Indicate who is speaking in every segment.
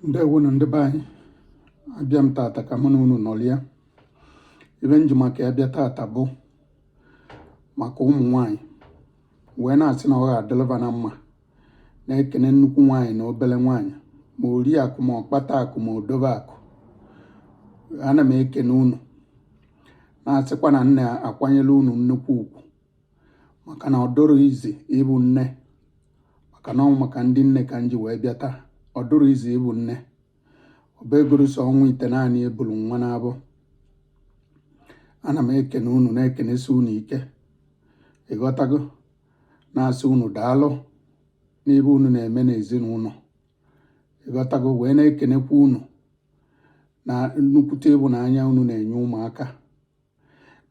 Speaker 1: ndewonu ndị be anyị abịa m tata ka mụ na unu nọrịa ibe m ji maka ya bịa tata bụ maka ụmụ nwanyị wee na-asị na ọ ga-adịlị va na mma na-ekene nnukwu nwaanyị na obere nwaanyị ma ori akụ ma ọkpata akụ ma odobe akụ ana m ekene unu na-asịkwa na m na-akwanyelụ unu nnukwu ugwu maka na ọ dụrọ easy ịbụ nne maka na ọ wụ maka ndị nne ka m ji wee bịa taa ọ dụrọ easy ịbụ nne ọbegorosi ọnwa itenaanị e bulu nwa n'abọ ana m ekene unu na-ekenesi unu ike ị ghọtago na-asị unu daalụ n'ibe unu na-eme n'ezinụlọ ị ghọtago wee na-ekenekwa unu na nnukwute ịbụnanya unu na-enye ụmụaka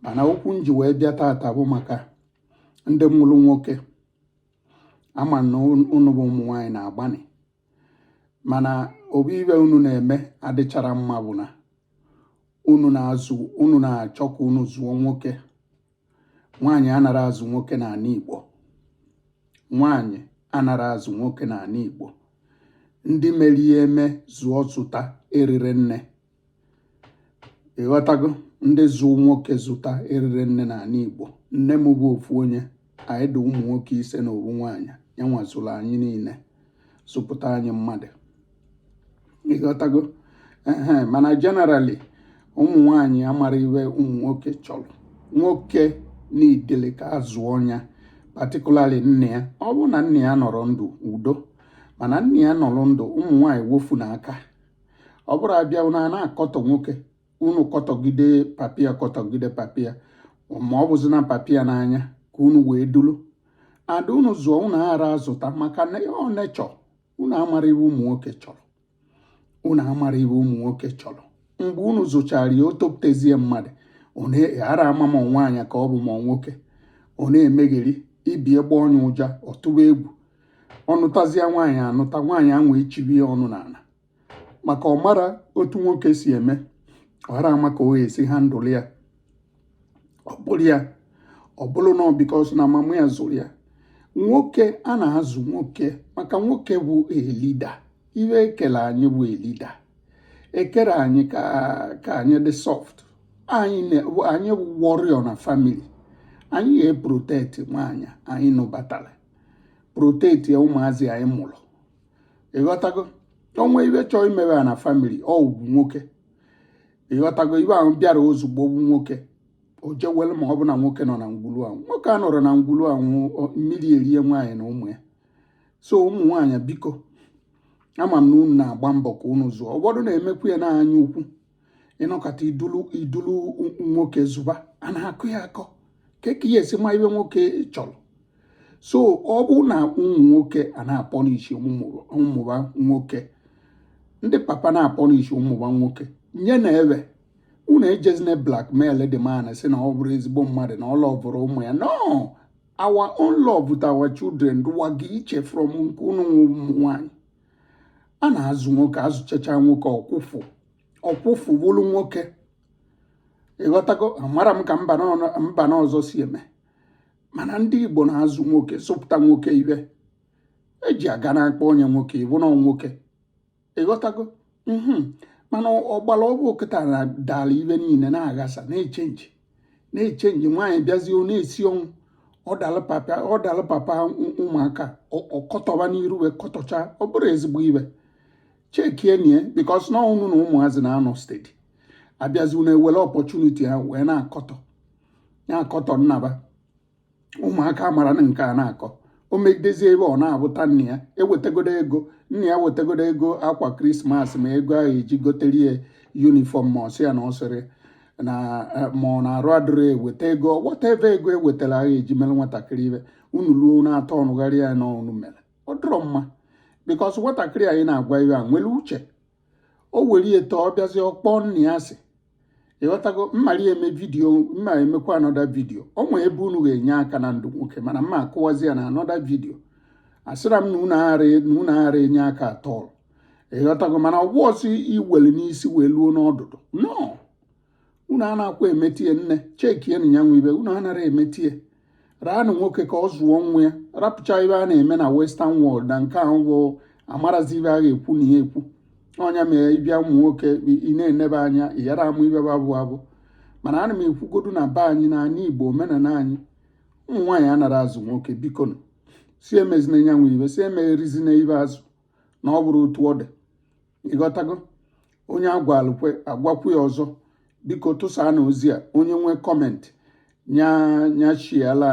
Speaker 1: mana okwu m ji wee bịa tata bụ maka ndị mụrụ nwoke ama m na unu bụ ụmụ nwaanyị na-agbanị mana obu ibe unu na-eme adịchara mma bụ na unu na-azụ unu na-achọ ka unu zụọ nwoke nwaanyị anara azụ nwoke n'anị Igbo nwaanyị anara azụ nwoke n'anị Igbo ndị mere ihe eme zụọ zụta eriri nne ị ghọtago ndị zụ nwoke zụta eriri nne na anị Igbo nne m bụ ofu onye anyị dị ụmụ nwoke ise na ofu nwaanyị ya nwa zụrụ anyị niine zụpụta anyị mmadụ ị ghọtago ehe mana generally ụmụ nwaanyị amara ibe ụmụ nwoke chọrọ nwoke needịrị ka a zụọ nya particularly nna ya ọ bụrụ na nna ya anọrọ ndụ udo mana nna ya nọrọ ndụ ụmụ nwaanyị wefụnụ aka ọ bụrụ a bịa unu ana-akọtọ nwoke unu kọtọgide papa ya kọtọgide papa ya ma ọ bụzina papa ya n'anya ka unu wee dulu ada unu zụọ unu aghara azụta maka na ibe ọ na-achọ unu amara ibe ụmụ nwoke chọrọ unu amara ibe ụmụ nwoke chọrọ mgbe unu zụchara ya o topụtazie mmadụ unu aghara ama ma nwaanyị ka ọ bụ ma nwoke ọ na-emegheri ibe gbọọ nya ụja ọ tụwa egwu ọ nụtazịa nwaanyị anụta nwaanyị ahụ echibie ya ọnụ n'ana maka ọ mara otu nwoke si eme ọ ghara ama ka o si handle ya ọ bụrụ ya ọ bụrụ na because na mama ya zụrụ ya nwoke a na-azụ nwoke maka nwoke bụ a leader ibe e kele anyị bụ a leader ekere anyị ka anyị dị soft anyị bụ warrior na family anyị ga-eprotect nwaanyị anyị nụbatara proteti ya ụmụazị anyị mụrụ ịghọtago o nwee ibe chọọ imewe ya na famili ọ wụ nwoke ịghọtago ibe ahụ bịara ozugbo wụ nwoke o je-ewelu ma ọ bụ na nwoke nọ na ngwulu ahụ nwoke anọrọ na ngwulu ahụ mmiri erie nwaanyị na ụmụ ya so ụmụ nwaanyị biko ama m na unu na-agba mbọ ka unu zụọ ụfọdụ na-emekwu ya n'anya ukwu ị nọkata i dulu i dulu nwoke zụba a na-akụ ya akọ kee ka ị ya-esi ma ibe nwoke chọrọ so ọ bụ na ụmụ nwoke a na-apọnịshị ụmụ ba nwoke ndị papa na-apọnịshị ụmụ ba nwoke nyenụ ya ebe unu ejezina blackmail the man sị na ọ bụrọ ezigbo mmadụ na ọ lọvụrọ ụmụ ya no our own love with our children dụwaga iche from nke unu ụmụ nwanyị a na-azụ nwoke azụchacha nwoke ọ kwụfụ ọ kwụfụ wụrụ nwoke ịghọtago amara m ka mba na ọzọ si eme mana ndị Igbo na-azụ nwoke zụpụta nwoke ibe e ji aga na-akpọ onye nwoke ịbụ na nwoke ịghọtago mhm. mana ọgbara ọ wụ kịta na dara ibe niile na-aghasa na-echenji na-echenji nwaanyị bịazie ọ na-esi ọnwụ ọ dalụ papa ụmụaka ọ kọtọba n'iru wee kọtọcha ọ bụrọ ezigbo ibe chekienu ya bikos na unu na ụmụazị na-anọ stedi abịazi unu ewere ọpọchuniti a wee na-akọtọ na-akọtọ nna ba ụmụaka mara na nke a na-akọ o megidezie ibe ọ na-abụta nna ya ewetagodo ego nna ya wetagodo ego akwa krismas ma ego ahụ e ji gotere ya yunifọm ma ọ sị ya na ọ sịrị na eh, ma ọ na-arụ adịrị eweta ego whatever ego e wetara a gha-eji mere nwatakịrị ibe unu ruo na-atọnụgharị ya na unu mere ọ dịrọ mma bikọs nwatakịrị anyị na-agwa ibe a nwere uche o were eto ọ bịazie ọ kpọọ nne ya asị ịghọtago m mara eme vidiyo m ma-emekwa anọda vidiyo o nwee ebe unu ga-enye aka na ndụ nwoke mana m ma-akọwazi ya na anọda vidiyo asịra m na unu aghara enye aka atọl ịghọtago mana ọ wụ a sị i were n'isi wee luo n'ọdụdụ no unu anakwa emetie nne chekienu ya nwa ibe unu anara emetie raanụ nwoke ka ọ zụọ nwa ya rapụcha ibe a na-eme na western world na nke ahụ bụ amarazi ibe a gha-ekwu na ya ekwu ọ ya mere ị bịa ụmụ nwoke ị na-enebe anya ị yara ama ibe ba bụ abụ mana ana m ekwugodu na be anyị n'anị igbo omenala anyị ụmụ nwaanyị anara azụ nwoke bikonụ si emezina nyanwụ ibe si emegherizina ibe azụ na ọ bụrọ otu ọ dị ị ghọtago onye a gwalụkwa a gwakwu ya ọzọ biko tụsaanụ ozi a onye nwee comment nyachiela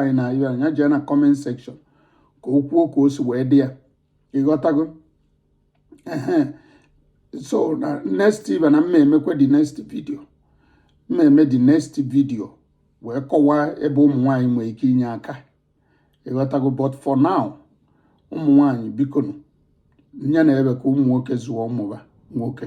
Speaker 1: anyị na ibe nya jee na comment section ka o kwuo ka o si wee dị ya ị ghọtago ehe so na next ibe na m ma-emekwa the next video m ma-eme the next video wee kọwaa ebe ụmụ nwaanyị nwere ike inye aka ị ghọtago but for now ụmụ nwanyị bikonụ nyenụ ebe ka ụmụ nwoke zụọ ụmụ ba nwoke